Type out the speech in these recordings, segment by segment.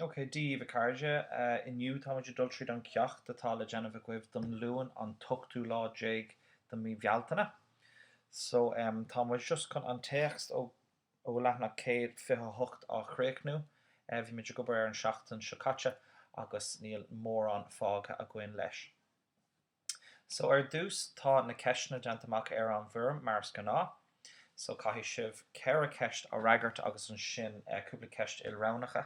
Ok, Dia daoibh a chairde, inniu táimid ag dul tríd an ceacht atá le déanamh agaibh don Luan an t-ochtú lá déag de mhí Bhealtaine. So, tá muid just chun an téacs ó leathanach céad fiche a hocht á chríochnú. Bhí muid ag obair air an tseachtain seo caite agus níl mórán fágtha againn leis. So ar dtús tá na ceisteanna déanta amach ar an bhfoirm mar is gnáth. So caithfidh sibh ceithre cheist a fhreagairt agus ansin cúpla ceist ilroghnacha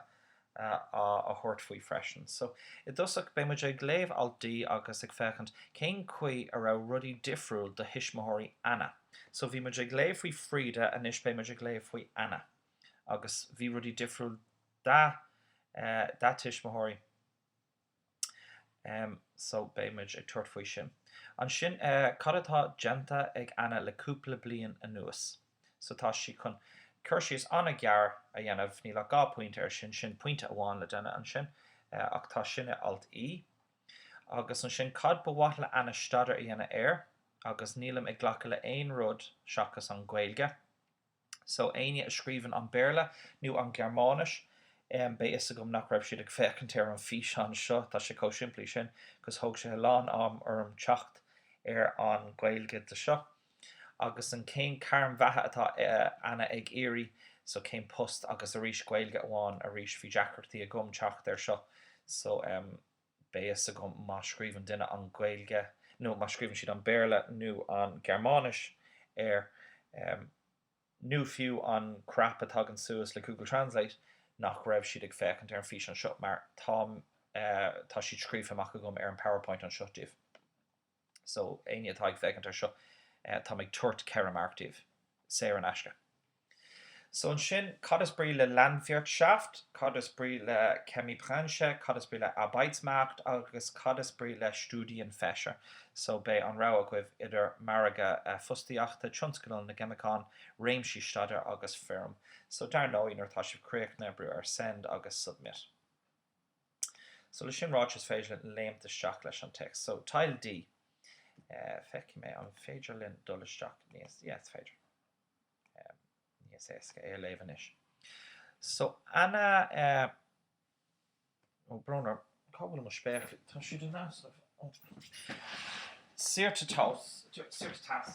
a thabhairt faoi freisin. So i dtosach beidh muid ag léamh alt D agus ag féachaint cén chaoi a raibh rudaí difriúil do thuismitheoirí Anna. So bhí muid ag léamh faoi Frida anois beidh muid ag léamh faoi Anna agus bhí rudaí difriúil dá tuismitheoirí. Em so beidh muid ag tabhairt faoi sin. Ansin eh cad atá déanta ag Anna le cúpla bliain anuas? So tá sí chun cur síos an-ghearr a dhéanamh, níl ach dhá pointe air sin, sin pointe amháin le duine ansin eh ach tá sin i alt E. Agus ansin cad ba mhaith le Anna staidéar a dhéanamh air agus nílim ag glacadh le aon rud seachas an Ghaeilge. So éinne a scríobhann an Béarla nó an Ghearmáinis, beidh fhios agam nach raibh siad ag féachaint ar an físeán seo, tá sé chomh simplí sin, cos thóg sé a lán am orm teacht ar an Ghaeilge de seo. Agus an cén gairm bheatha atá Anna ag iarraidh, so cén post agus arís Gaeilge amháin, arís bhí deacrachtaí agam teacht ar seo, so ehm. Beidh fhios agam má scríobhann duine an Ghaeilge nó má scríobhann siad an Béarla nó an Gearmáinis air, nó fiú an crap a tagann suas le Google Translate, nach raibh siad ag féachaint ar an físeán seo mar tá siad scríofa amach agam ar an PowerPoint anseo daoibh. So, éinne atá ag féachaint ar seo, táim ag tabhairt ceithre marc daoibh, saor in aisce. So ansin, cad is brí le Landwirtschaft, cad is brí le Chemiebranche, cad is brí le Arbeitsmarkt agus cad is brí le Studienfächer? So beidh an rogha agaibh idir margadh fostaíochta, tionscal na gceimiceán, réimsí staidéir agus feirm. So dar ndóigh, nuair atá sibh críochnaithe, brú ar Send agus Submit. So le sin ráite is féidir linn léimt isteach leis an téacs. So Teil D, feicfidh mé an féidir linn dul isteach níos, yeah is féidir, níos éasca é a léamh anois. So Anna, oh brón orm, cá bhfuil mo spéaclaí? Tá siad in aisce oh, saortithe, saortithe.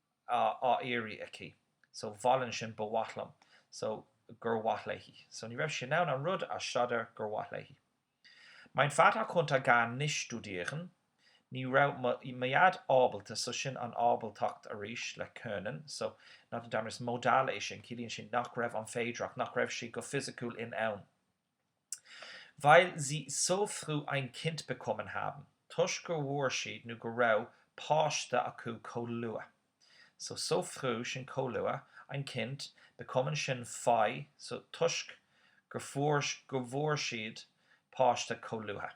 á iarraidh aici so wollen sin ba mhaith liom so gur mhaith léi so ní raibh sí in ann an rud a staidéar gur mhaith léi mein Vater konnte gar nicht studieren ní raibh mo mo dhaid ábalta so sin an ábaltacht arís le können so nach an Domhanleighis modal é sin ciallaíonn sin nach raibh an féidearthacht nach raibh sé go fisiciúil in ann Weil sie so früh ein Kind bekommen haben, toisc gur mhór siad nó go raibh páiste acu chomh luath. So, so früh, sin chomh luath, ein Kind, bekommen, sin faí, so, toisc gur fuair, gur bhfuair siad páiste chomh luath.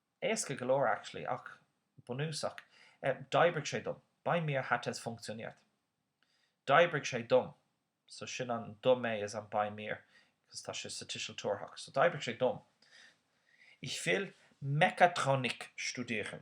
Éasca go leor, actually, ach bunúsach. D'oibrigh sé dom. Bei mir hat es funktioniert. D'oibrigh sé dom. So sin an dom é is an bei mir, because tá sé sa tuiseal tabharthach. So d'oibrigh sé dom. Ich will Mechatronik studieren.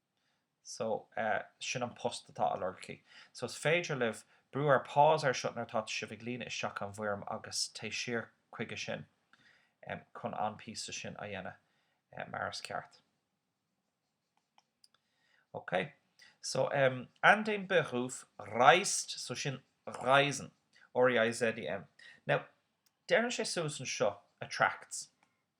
so eh sin an post atá á lorg aici so is féidir libh brú ar pause air seo nuair atá sibh ag líonadh isteach an bhfoirm agus téigh siar chuige sin em chun an píosa sin a dhéanamh eh mar is ceart. Ok so em an den Beruf reizt so sin reizen R E I Z E N now deireann sé suas anseo attracts.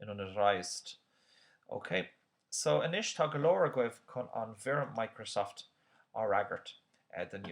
in an reizt, OK so anois tá go leor agaibh chun an bhfoirm Microsoft a fhreagairt don.